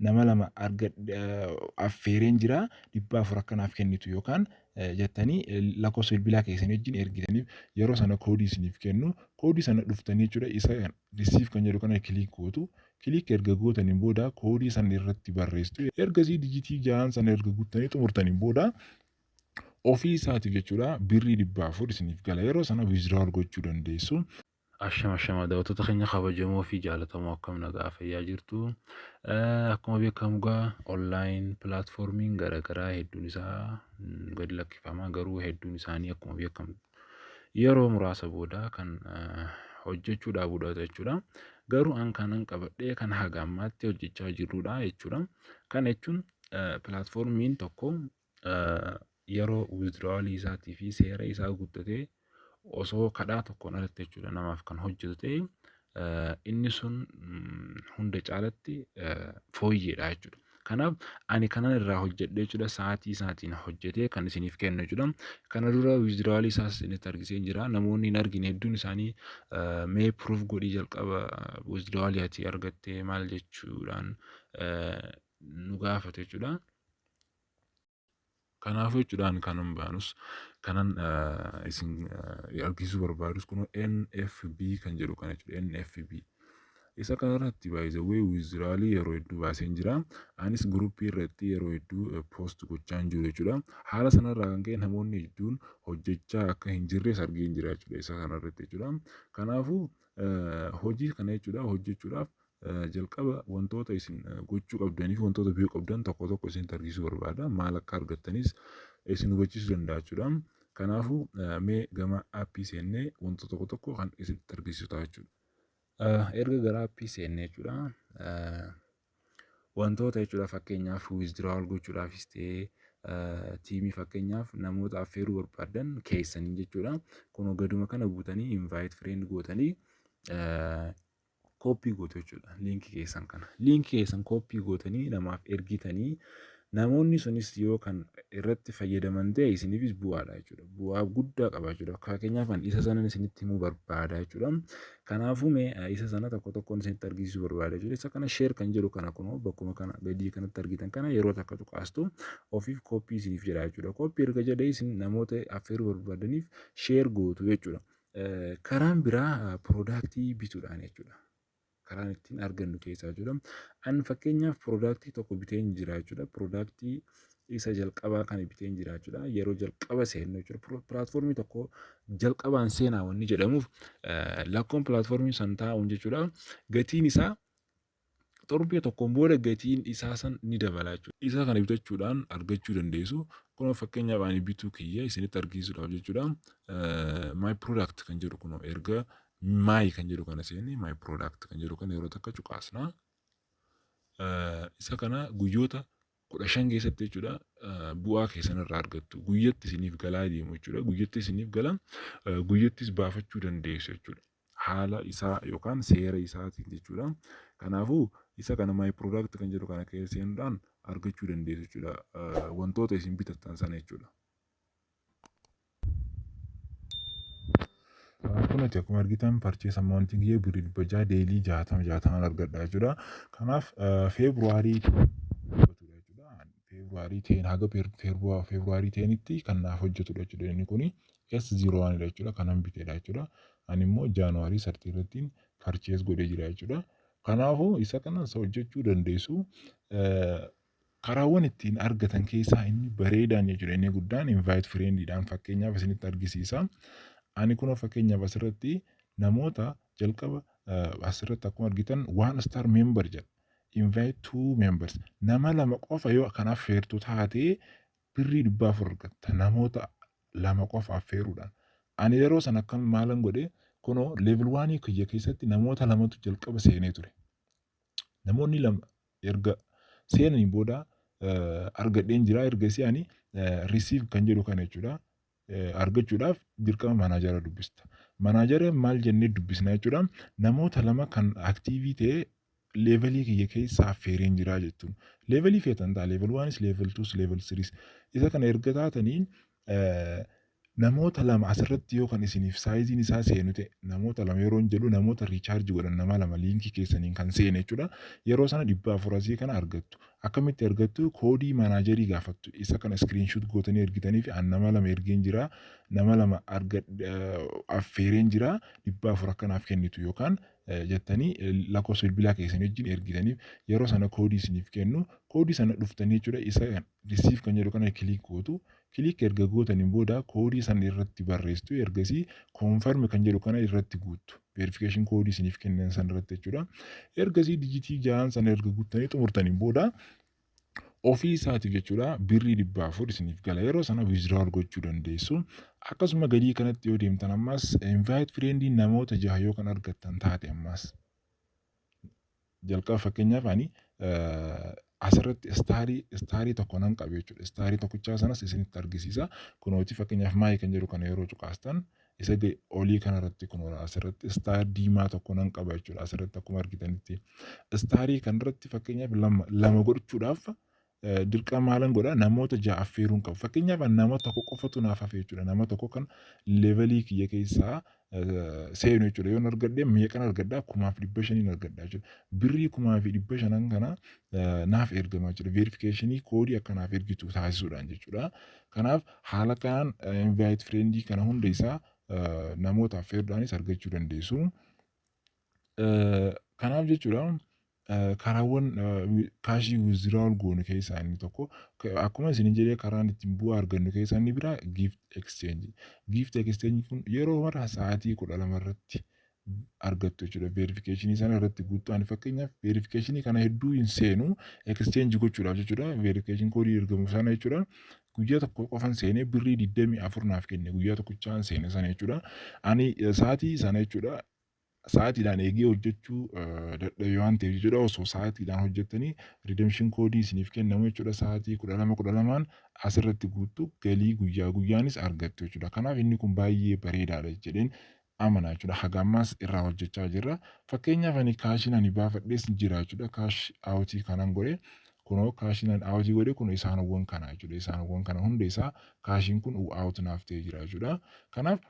nama lama affeereen jira dhibba afur akka naaf kennitu yookaan jettanii lakkoofsa bilbilaa keessan wajjin ergitaniif yeroo sana koodii isiniif kennu koodii sana dhuftanii jechuudha isa risiif kan jedhu kana kiliik gootu kiliik erga gootaniin booda koodii sana irratti barreessitu ergasii dijitii ja'aan sana erga guuttanii xumurtaniin booda ofii isaatiif jechuudha birrii dhibba afur isiniif gala yeroo sana wiiziraawal gochuu dandeessu. Ashama ashama daawwattoota keenya kabajamoo fi jaalatamoo akkam nagaa fayyaa jirtu. Eh, Akkuma beekamu egaa online platformiin garaagaraa hedduun isaa mm, gad lakkifama garuu hedduun isaanii akkuma beekamu yeroo muraasa booda kan eh, hojjechuu dhaabuudha jechuudha. Garuu an kanan qabadhee kan haga ammaatti hojjechaa jirrudha jechuudha. Kana jechuun eh, platformiin tokko yeroo withdrawal isaatii fi seera isaa guuttatee osoo kadhaa tokkoon alatti jechuudha namaaf kan hojjetu ta'e inni sun hunda caalatti fooyyeedha jechuudha. Kanaaf ani kanan irraa hojjedhe jechuudha sa'aatii isaatiin hojjetee kan isiniif kennu jechuudha. Kana dura withdrawal isaas isinitti argisee jira namoonni hin argine hedduun isaanii mee proof godhii jalqaba withdrawal ati argattee maal jechuudhaan nu gaafatu jechuudha. Kanaafuu jechuudhaan kanan baanus kanan eh, isin eh, argisiisuu barbaadus kun NFB kan jedhu kana jechuudha NFB. Isa kana irratti baay'isawwee wiiziraalii yeroo hedduu baaseen jira. Anis guruppii irratti yeroo hedduu eh, poost gochaan jiru jechuudha. Haala sanarraa kan ka'e namoonni hedduun hojjechaa akka hin jirres argeen jira jechuudha isa kana irratti jechuudha. Kanaafuu eh, hojii kana jechuudha hojjechuudhaaf Eh, Jalqaba wantoota isin eh, gochuu qabdanii fi wantoota biyyuu qabdan tokko tokko isin tarsiisuu barbaada. Maal akka argattanis eh, isin hubachiisuu danda'a jechuudha. Kanaafuu eh, mee gama aappii seennee wantoota tokko tokko kan isin tarsiisuu ta'a jechuudha. Eh, Erga gara aappii seennee jechuudha. eh, wantoota jechuudha fakkeenyaaf withdrawal gochuudhaafis ta'ee eh, tiimii fakkeenyaaf namoota affeeruu barbaadan keessaniin jechuudha. Kun gaduma kana buutanii invite friend gootanii eh, kooppii gootu jechuudha liinkii keessan kana. Liinkii keessan kooppii gootanii namaaf ergitanii namoonni sunis yoo kan irratti fayyadaman ta'e isiniifis bu'aadha jechuudha. Bu'aa guddaa qaba jechuudha. Fakkeenyaaf kan isa sanan isinitti himuu barbaada jechuudha. Kanaafuu mee isa sana tokko tokkoon isinitti argisiisuu barbaada jechuudha. Isa kana sheer kan jedhu kana kunoo bakkuma kana gadii kanatti argitan kana yeroo takka tuqaastu ofiif kooppii isiniif jedha jechuudha. Kooppii erga jedhee isin namoota affeeruu barbaadaniif sheer gootu jechuudha. Karaan biraa piroodaaktii bituudhaan jechuudha. Karaan ittiin argannu keessaa jechuudha. An fakkeenyaaf piroodaaktii tokko biteen jira jechuudha. Piroodaaktii isa jalqabaa kan biteen jira jechuudha. Yeroo jalqaba seennu jechuudha. Pilaatfoormii tokko jalqabaan seenaa wanni jedhamuuf lakkoon pilaatfoormii san taa'uun jechuudha. Gatiin isaa Torbee tokkoon booda gatiin isaa san ni dabala jechuudha. Isa kana bitachuudhaan argachuu dandeessu. Kunoo fakkeenyaaf ani bituu kiyya isinitti argisiisuudhaaf jechuudha. My product kan jedhu kunoo erga my kan jedhu kana seenne my product kan jedhu kana yeroo takka cuqaasna. Isa kana guyyoota kudha shan keessatti jechuudha bu'aa keessan irraa argattu guyyatti isiniif galaa deemu jechuudha guyyatti isiniif gala guyyattis baafachuu dandeessu jechuudha haala isaa yookaan seera isaatiin jechuudha kanaafuu isa kana maay product kan jedhu kana keessa seenuudhaan argachuu dandeessu jechuudha wantoota isin bitattan sana jechuudha. Kunati akkuma argitan purchase amount kiyya birrii dhibba jaha daily jahatama jahatamaan argadha jechuudha. Kanaaf February February 10 haga February 10tti kan naaf hojjetudha jechuudha inni kuni S01 dha jechuudha kanan bitedha jechuudha. Ani immoo January 30 irratti purchase godhee jira jechuudha. Kanaafuu isa kanas hojjechuu dandeessu. Karaawwan ittiin argatan keessaa inni bareedaan jechuudha inni guddaan invite friend dhaan fakkeenyaaf isinitti argisiisa. Ani kunoo fakkeenyaaf asirratti namoota jalqaba eh, asirratti akkuma argitan one star member jedha. Invite two members nama lama qofa yoo kan affeertu taate birrii dhibba afur argatta namoota lama qofa affeeruudhaan. Ani yeroo sana akkam maalan godhe kunoo level waanii kiyya keessatti namoota lamatu jalqaba seenee ture. Namoonni lama erga seenanii booda argadheen jira erga isii ani receive kan jedhu kana jechuudha. Argachuudhaaf dirqama manaajara dubbista. Manaajara maal jennee dubbisna jechuudha. Namoota lama kan aktiivii ta'e leevelii kiyya keessa affeereen jira jechuun. Leevelii feetan ta'a leevel waanis leevel tuus leevel siriis. Isa kana erga taatanii Namoota lama asirratti yoo kan isiniif saayiziin isaa seenu ta'e namoota lama yeroon jedhu namoota riichaarji godhan nama lama liinkii keessaniin kan seene jechuudha. Yeroo sana dhibba afur asii kana argattu. Akkamitti argattu koodii manaajarii gaafattu. Isa kana iskiriinshuut gootanii ergitanii fi an nama lama ergeen jira nama lama affeereen jira dhibba afur akka naaf kennitu yookaan jettanii lakkoofsa bilbilaa keessan wajjin ergitaniif yeroo sana koodii isiniif kennu koodii sana dhuftanii jechuudha isa risiif kan jedhu kana kiliik gootu kiliik erga gootaniin booda koodii sana irratti barreessitu ergasii koonfarmi kan jedhu kana irratti guuttu veerifikeeshin koodii isiniif kennan sana irratti jechuudha ergasii dijitii ja'aan sana erga guuttanii xumurtaniin booda ofii isaatiif jechuudha birrii dhibba afur isiniif gala yeroo sana withdrawal gochuu dandeessu akkasuma gadii kanatti yoo deemtan ammas invite friendii namoota jaha yoo kan argattan taate ammas jalqaba fakkeenyaaf ani asirratti istaarii istaarii tokko nan qabe jechuudha istaarii tokkichaa sanas isinitti argisiisa kunooti fakkeenyaaf maayii kan jedhu kana yeroo cuqaastan isa ga- olii kanarratti kunoo asirratti istaar diimaa tokko nan qaba jechuudha asirratti akkuma argitanitti istaarii kanarratti fakkeenyaaf lama lama godhachuudhaaf eh, dirqama maalan godha namoota ja'a affeeruun qabu fakkeenyaaf an nama tokko qofatu naaf hafe jechuudha nama tokko kan levelii kiyya keessaa eh, seenu jechuudha yoon argadhe meeqan argadha kumaaf dhibba shaniin argadha jechuudha birrii kumaa fi dhibba shanan kana eh, naaf ergama jechuudha veerifikeeshinii koodii akka naaf ergitu taasisuudhaan jechuudha Kanaaf haala kanaan invite friend kana hunda isaa namoota affeerudhaanis argachuu dandeessu. Kanaaf jechuudha karaawwan kaashii withdrawal goonu keessaa inni tokko akkuma isin jedhee karaan ittiin bu'aa argannu keessaa inni biraa gift exchange. Gift exchange kun yeroo mara sa'aatii kudha lama irratti argattu jechuudha. Veerifikeeshinii sana irratti guuttu. Ani fakkeenyaaf veerifikeeshinii kana hedduu hin seenu ekscheenji gochuudhaaf jechuudha. Veerifikeeshin koodii ergamu sana jechuudha. Guyyaa tokko qofan seenee birrii digdamii afur naaf kenne guyyaa tokkichaan seene sana jechuudha. Ani eh, sa'aatii sana jechuudha sa'aatiidhaan eegee hojjechuu eh, dadhabe waan ta'eef jechuudha osoo sa'aatiidhaan hojjettanii redemption koodii isiniif kennamu jechuudha sa'aatii kudha lama kudha lamaan asirratti guuttu galii guyyaa guyyaanis argattu jechuudha kanaaf inni kun baay'ee bareedaadha jedheen amana jechuudha. Haga ammaas irraa hojjechaa jirra. Fakkeenyaaf ani kaashiin ani baafadhees jira jechuudha. Kaash aawutii kanan godhe kunoo kaashiin ani aawutii godhe kun isaanowwan kana jechuudha. Isaanowwan kana hunda isaa kaashiin kun aawut naaf ta'ee jira jechuudha. Kanaaf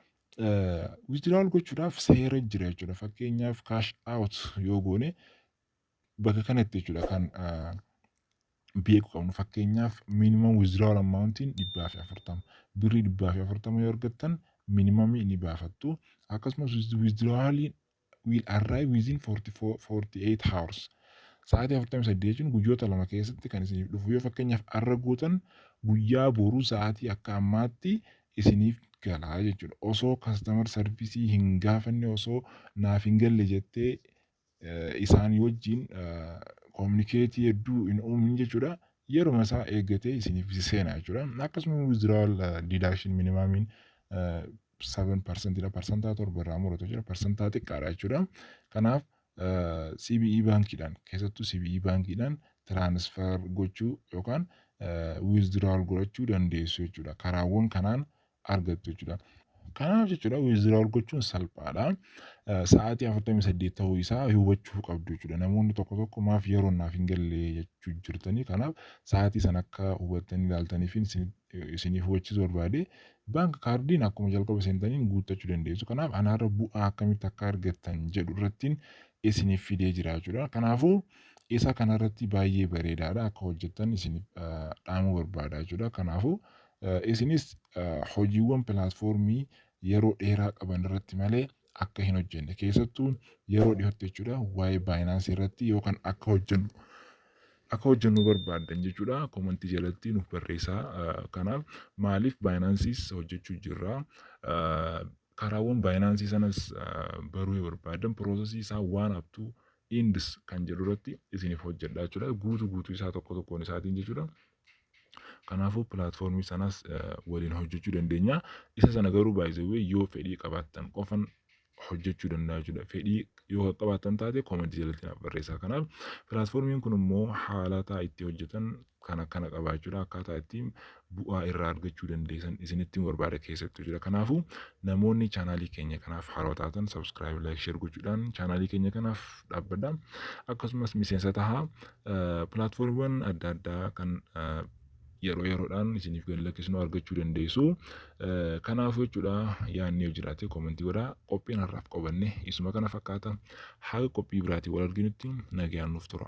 withdrawal gochuudhaaf seera jira jechuudha. Fakkeenyaaf kaash aawut yoo goone Bakka kanatti jechuudha kan beeku qabnu fakkeenyaaf minimum withdrawal amount'n dhibbaa fi afurtama birrii dhibbaa fi afurtama yoo argattan minimumii ni baafattu akkasumas withdrawaliin will arrive within 48 hours sa'aatii afurtamii saddeet jechuun guyyoota lama keessatti kan isiniif dhufu yoo fakkeenyaaf arra gootan guyyaa boruu sa'aatii akka ammaatti isiniif galaa jechuudha osoo kastamar sarvisii hin gaafanne osoo naaf hin galle jettee isaanii wajjin communicate hedduu hin uumin jechuudha. Yeruma isaa eeggatee isiniif si seena jechuudha. Akkasuma withdrawal deduction minimamiin 7 parsantiidha. Parsantaa torba irraa muratu jira. Parsantaa xiqqaadha jechuudha. Kanaaf CBE baankiidhaan keessattuu CBE baankiidhaan transfer gochuu yookaan withdrawal godhachuu dandeessu jechuudha. Karaawwan kanaan argattu jechuudha. Kanaaf jechuudha wiziraawul gochuun salphaadha. Sa'aatii 48 ta'uu isaa hubachuu qabdu jechuudha. Namoonni tokko tokko maaf yeroo naaf hin galle jechuu jirtanii kanaaf sa'aatii sana akka hubattanii ilaaltaniif isiniif hubachiisu barbaade baank kaardiin akkuma jalqaba seentaniin guuttachuu dandeessu. Kanaaf anaarra bu'aa akkamitti akka argattan jedhu irrattiin isiniif fidee jira jechuudha. Kanaafuu isa kanarratti baay'ee bareedaadha akka hojjettan isiniif dhaamuu barbaada jechuudha. Kanaafuu Isinis hojiiwwan pilaatfoormii yeroo dheeraa qaban irratti malee akka hin hojjenne keessattuu yeroo dhihootti jechuudha waa'ee baayinaansii irratti yoo kan akka hojjennu akka hojjennu barbaaddan jechuudha komantii jalatti nuuf barreessaa kanaaf maaliif baayinaansiis hojjechuu jirra karaawwan baayinaansii sanas baruu yoo barbaaddan piroosesii isaa waan haftuu indis kan jedhu irratti isiniif hojjedha jechuudha guutuu guutuu isaa tokko tokkoon isaatiin jechuudha Kanaafuu pilaatfoormii sanas waliin hojjechuu dandeenya. Isa sana garuu baay'ee yoo fedhii qabaattan qofan hojjechuu danda'a jechuudha. Fedhii yoo qabaattan taate koomantii jalatti naaf barreessaa. Kanaaf pilaatfoormiin kun immoo haalataa itti hojjetan kan akkana qaba jechuudha. Akkaataa itti bu'aa irraa argachuu dandeessan isinitti barbaada keessattuu jira. Kanaafuu namoonni chaanaalii keenya kanaaf haaraa taatan sabskiraayib laayik sheer gochuudhaan chaanaalii keenya kanaaf dhaabbadha. Akkasumas miseensa tahaa Pilaatfoormiiwwan adda addaa kan yeroo yeroodhaan isiniif gad lakkisnu argachuu dandeessu. Kanaafuu jechuudha yaadni yoo jiraate koomentii godhaa. Qophiin har'aaf qabanne isuma kana fakkaata. Haga qophii biraatiin wal arginutti nagayaan nuuf tura.